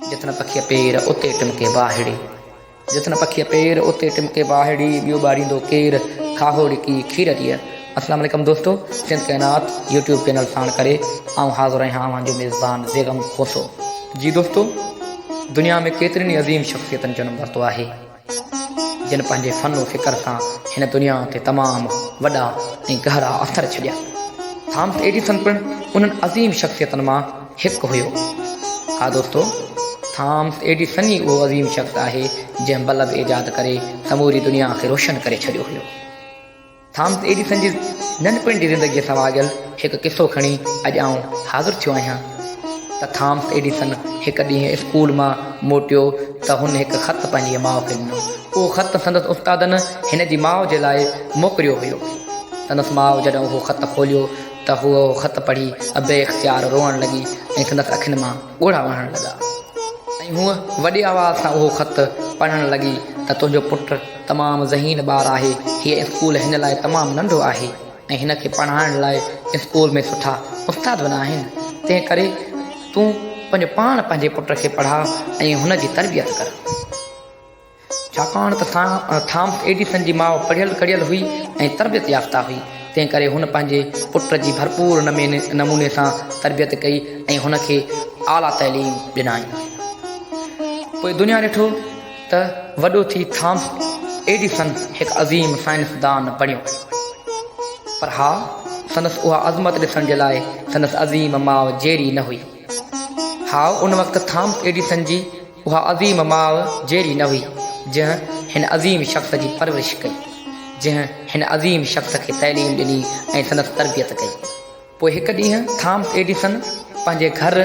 جت نه پکيء پير، اتي ٽمڪي واهڙي. جت نه پکيء پير، اتي ٽمڪي واهڙي، ٻيو ٻاڙيندو ڪير، کاهو ڙڪي کير ڏيء. السلام عليڪم دوستو سنڌ ڪائنات يوٽيوب چينل ساڻ ڪري آئون حاضر آهيان اوهان جو ميزبان بيگم کوسو. جي دوستو دنيا ۾ ڪيترين ئي عظيم شخصيتن جنم ورتو آهي. جن پنهنجي فن و فڪر سان هن دنيا تي تمام وڏا ۽ گهرا اثر ڇڏيا. ٿامس ايڊيسن پڻ انهن عظيم شخصيتن مان هڪ هيو. ها دوستو، ٿامس ايڊيسن ئي اهو عظيم شخص آهي، جنهن بلب ايجاد ڪري سموري دنيا کي روشن ڪري ڇڏيو هيو. ٿامس ايڊيسن جي ننڍپڻ جي زندگيء سان واڳيل هڪ قصو کڻي اڄ آئون حاضر ٿيو آهيان ته ٿامس ايڊيسن هڪ ڏينهن اسڪول مان موٽيو ته هن هڪ خط پنهنجيء ماء کي ڏنو. اهو خط سندس استادن هن جي ماء جي لاء موڪليو هيو. سندس ماء جڏهن اهو خط کوليو ته هوء اهو خط پڙهي بي اختيار روئڻ لڳي ۽ سندس اکين مان ڳوڙها وهڻ لڳا ۽ هوء وڏي آواز سان اهو خط پڙهڻ لڳي ته تنهنجو پٽ تمام ذهين ٻار آهي، هيء اسڪول هن لاء تمام ننڍو آهي ۽ هن کي پڙهائڻ لاء اسڪول ۾ سٺا استاد به نه آهن، تنهن ڪري تون پنهنجو پاڻ پنهنجي پٽ کي پڙهاء ۽ هن جي تربيت ڪر. ڇاڪاڻ ته ٿامس ايڊيسن جي ماء پڙهيل ڪڙهيل هئي ۽ تربيت يافته هئي، تنهن ڪري هن پنهنجي پٽ جي ڀرپور نموني سان تربيت ڪئي ۽ هن کي اعليٰ تعليم ڏنائين. پوء دنيا ڏٺو ته وڏو ٿي ٿامس ايڊيسن هڪ عظيم سائنسدان بڻيو. پر ها، سندس اها عظمت ڏسڻ جي لاء سندس عظيم ماء جيري نه هئي. ها، ان وقت ٿامس ايڊيسن جي اها عظيم ماء جهڙي نه هئي، جنهن هن عظيم شخص جي پرورش ڪئي، جنهن هن عظيم شخص کي تعليم ڏني ۽ سندس تربيت ڪئي. پوء هڪ ڏينهن ٿامس ايڊيسن پنهنجي گهر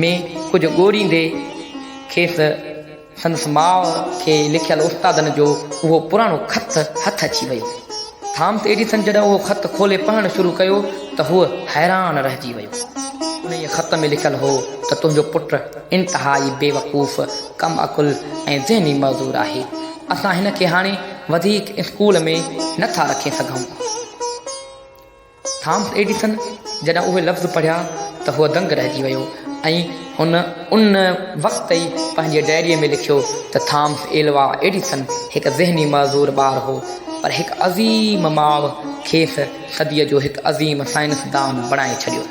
۾ ڪجهه ڳوريندي کيس سندس ماء کي لکيل استادن جو اهو پراڻو خط هٿ اچي ويو. ٿامس ايڊيسن جڏهن اهو خط کولي پڙهڻ شروع ڪيو ته هو حيران رهجي ويو. انهيء خط ۾ لکيل هو ته تنهنجو پٽ انتهائي بيوقوف، ڪم عقل ۽ ذهني معذور آهي. اسان هن کي هاڻي وڌيڪ اسڪول ۾ نه ٿا رکي سگهون. ٿامس ايڊيسن جڏهن اهي لفظ پڙهيا ته هو دنگ رهجي ويو ۽ هن ان وقت ئي پنهنجي ڊائريء ۾ لکيو ته ٿامس ايلوا ايڊيسن هڪ ذهني معذور ٻار هو، پر هڪ عظيم ماء کيس صديء جو هڪ عظيم سائنسدان بڻائي ڇڏيو.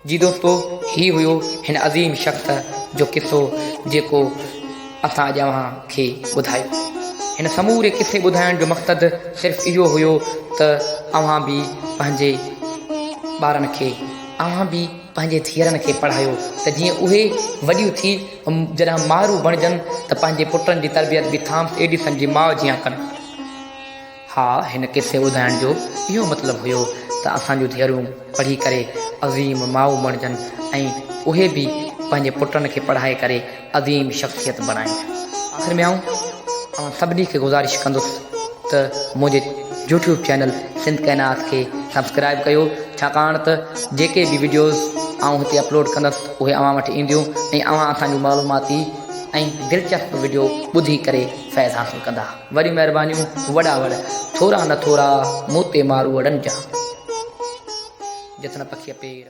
جي دوستو هي هيو هن عظيم شخص جو قصو جيڪو اسان اڄ اوهان کي ٻڌايو. هن سموري قصي ٻڌائڻ جو مقصد صرف اهو هيو ته اوهان به پنهنجي ٻارن کي اوهان به پنهنجي ڌيئرن کي پڙهايو ته جيئن اهي وڏيون ٿي جڏهن مائرون بڻجن ته پنهنجي پٽن جي تربيت به ٿامس ايڊيسن جي ماء جيان ڪن. ها هن قصي ٻڌائڻ جو اهو مطلب هيو ته اسان جون ڌيئرون پڙهي ڪري عظيم مائو بڻجن ۽ اهي به پنهنجي پٽن کي پڙهائي ڪري عظيم شخصيت بڻائين. آخر ۾ آئون اوهان سڀني کي گذارش ڪندس ته منهنجي يوٽيوب چينل سنڌ ڪائنات کي سبسڪرائيب ڪيو ڇاڪاڻ ته جيڪي به وڊيوز آئون هتي اپلوڊ ڪندس اهي اوهان وٽ اينديون ۽ اوهان اسان جون معلوماتي ۽ دلچسپ وڊيو ٻڌي ڪري فيض حاصل ڪندا. وڏيون مهربانيون وڏا وڙ. ٿورا نه ٿورا مون تي مارو وڙن جا. جٿ نه پکيء پير.